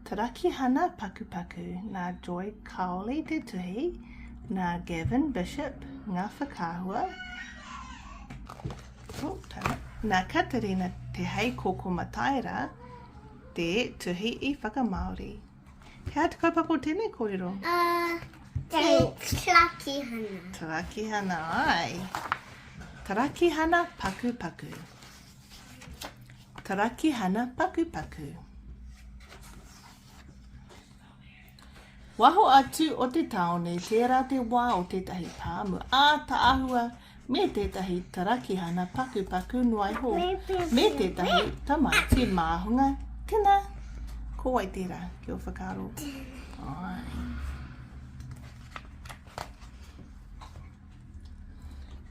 Turakihana Pakupaku, nā Joy Cowley te tuhi, nā Gavin Bishop ngā whakaahua, nā Katerina Te Heikoko Mataira te tuhi i whakamāori. He aha te kaupapa o tēnei kōrero? Uh, thanks, Turakihana. Turakihana, ai. Turakihana Pakupaku. Karakihana pakupaku. Waho atu o te tāone, tērā te wā o tētahi pāmu ātaahua me tētahi tarakihana pakupaku noa iho, me tētahi tamaiti māhunga. Tēnā, ko wai tērā ki o whakaaro? Ai.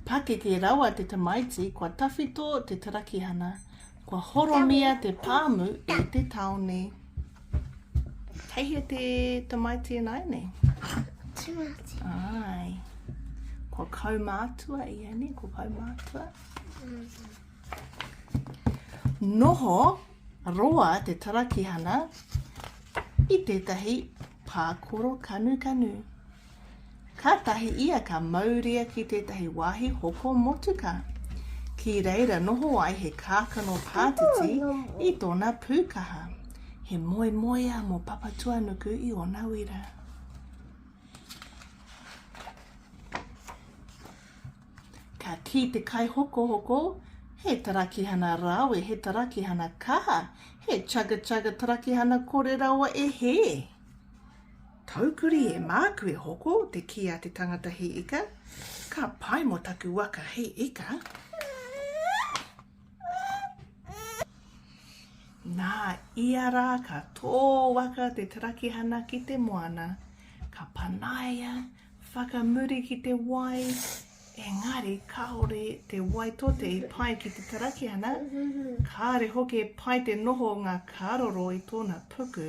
Pakeke rawa te tamaiti, kua tawhito te tarakihana, kua horomia te pāmu i te taone. Kei hea te tamaiti e nai nei? Tamaiti. Ai. Kua kaumātua i e nei, kua kaumātua. Noho roa te tarakihana i tētahi pākoro kanu kanu. Kātahi ia ka mauria ki tētahi wāhi hoko motuka. Ki reira noho ai he kākano pātiti i tōna pūkaha. He moemoeā mō Papatuanuku i ōna wira. Ka kī te kaihokohoko, he tarakihana rāwe, he tarakihana kaha, he chugga chugga tarakihana kore rawa e hē. Taukuri e māku e hoko te kī a te tangata hei ika, ka pai mo taku waka hei ika. Nā ia rā ka tō waka te tarakihana ki te moana, ka panaia whakamuri ki te wai, engari kāore te wai tote i pai ki te tarakihana, kāre hoki e pai te noho o ngā kāroro i tōna puku,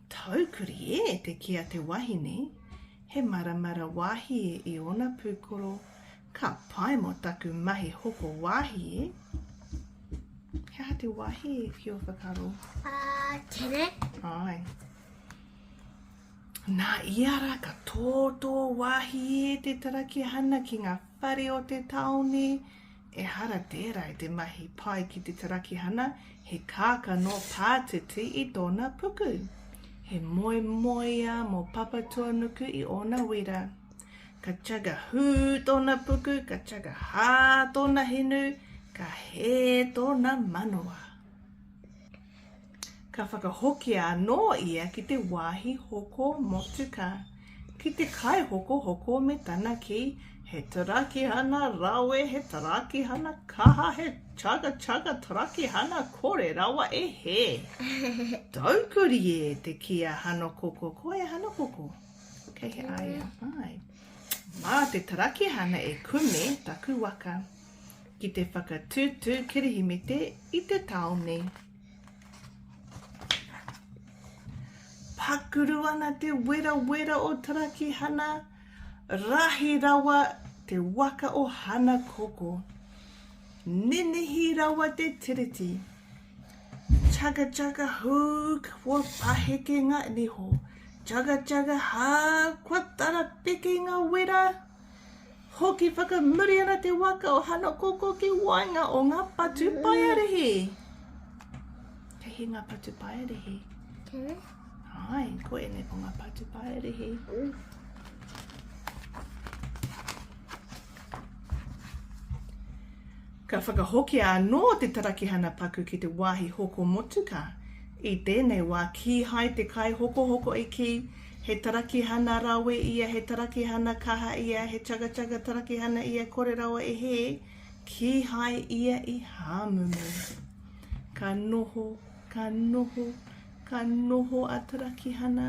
Taukuri e te kī a te wahine, he maramara wāhie i ōna pūkoro, ka pai mō taku mahi hoko wāhie. He aha te wāhie ki ō whakaaro? Ā, tere. Āe. Nā ia rā ka tōtō wāhie te tarakihana ki ngā whare o te tāone, Ehara tērā i te mahi pai ki te tarakihana, he kākano pātiti i tōna puku. He moemoeā mō Papatuanuku i ōna wira. Ka chaga hū tōna puku, ka chaga hā tōna hinu, ka hē tōna manawa. Ka whakahokia anō ia ki te wāhi hoko motuka, ki te kaihokohoko me tana kī, He tarakihana rawe, he tarakihana kaha, he chugga chugga tarakihana kore rawa e hē. Taukuri e te kī a Hanokoko, Ko e Hanokoko, kei he āia whai. Mā te tarakihana e kume taku waka. ki te whakatūtū kirihimete i te tāone. Pakuru ana te werawera o Tarakihana, rahi rawa te waka o Hana Koko. Nenehi rawa te tiriti. Chaka chaka hū, kua paheke ngā niho. Chaka chaka hā, kua tarapeke ngā wera. Hoki whakamuri ana te waka o Hanakoko ki waenga o ngā patu paiarihi. Kei he ngā patu paiarihi? Kei. Ai, ko ene ko ngā patu paiarihi. Ka whakahokia anō te tarakihana paku ki te wāhi hoko motuka. I tēnei wā, kīhai te kaihokohoko i kī, He tarakihana rawe ia, he tarakihana kaha ia, he chugga-chugga tarakihana ia, kore rawa e hē, kīhai ia i hāmumu. Ka noho, ka noho, ka noho a Tarakihana.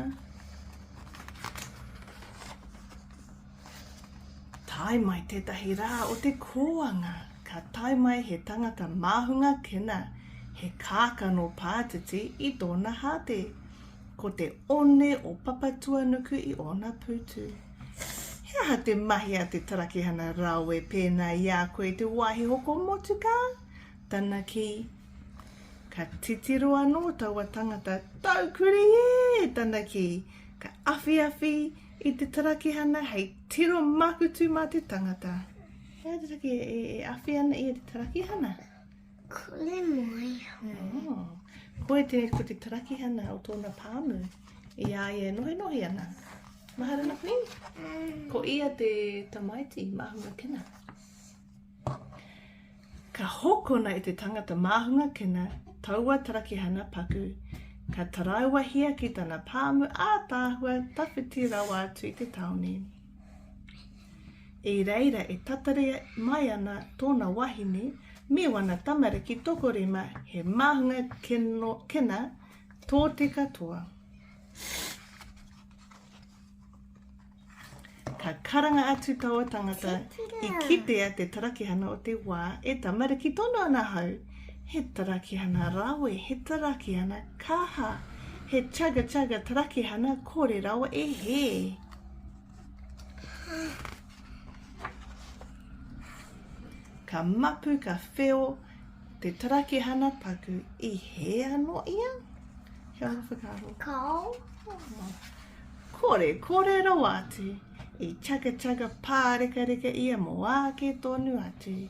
Tae mai tētahi rā o te kōanga, ka tae mai he tangata māhunga kena, he kākano pātiti i tōna hāte. Ko te one o Papatuanuku i ōna pūtu. He aha te mahi a te tarakihana rawe pēnā i a koe i te wāhi hoko motukā? Tana kī, Ka titiro anō taua tangata, tau kuri ē! tana kī, ka awhiawhi i te tarakihana hei tiro makutu mā te tangata. He aha te take e awhi ana ia te tarakihana? Kore mai ho. Oh. Koe te, ko te tarakihana o tōna pāmu i a ia e nohenohi ana. Mahara na kui. Mm. Ko ia te tamaiti, mahunga kena. Ka hokona e te tangata mahunga kena taua tarakihana paku. Ka taraua hia ki tana pāmu ātāhua tawhiti rawa atu i te taone. I reira e tatari mai ana tōna wahine me wana tamariki tokorima he māhunga keno, kena tō te katoa. Ka karanga atu taua tangata i kitea te tarakihana o te wā e tamariki tonu ana hau. He tarakihana rawe, he tarakihana kaha, he chaga chaga tarakihana kore rawa e he. Ka mapu, ka wheo, te tarakihana paku, i hē anō ia? He aha whakaaro? Kao. Kore, kore rawa atu, i chaka chaka pārekareka ia mō āke tonu atu.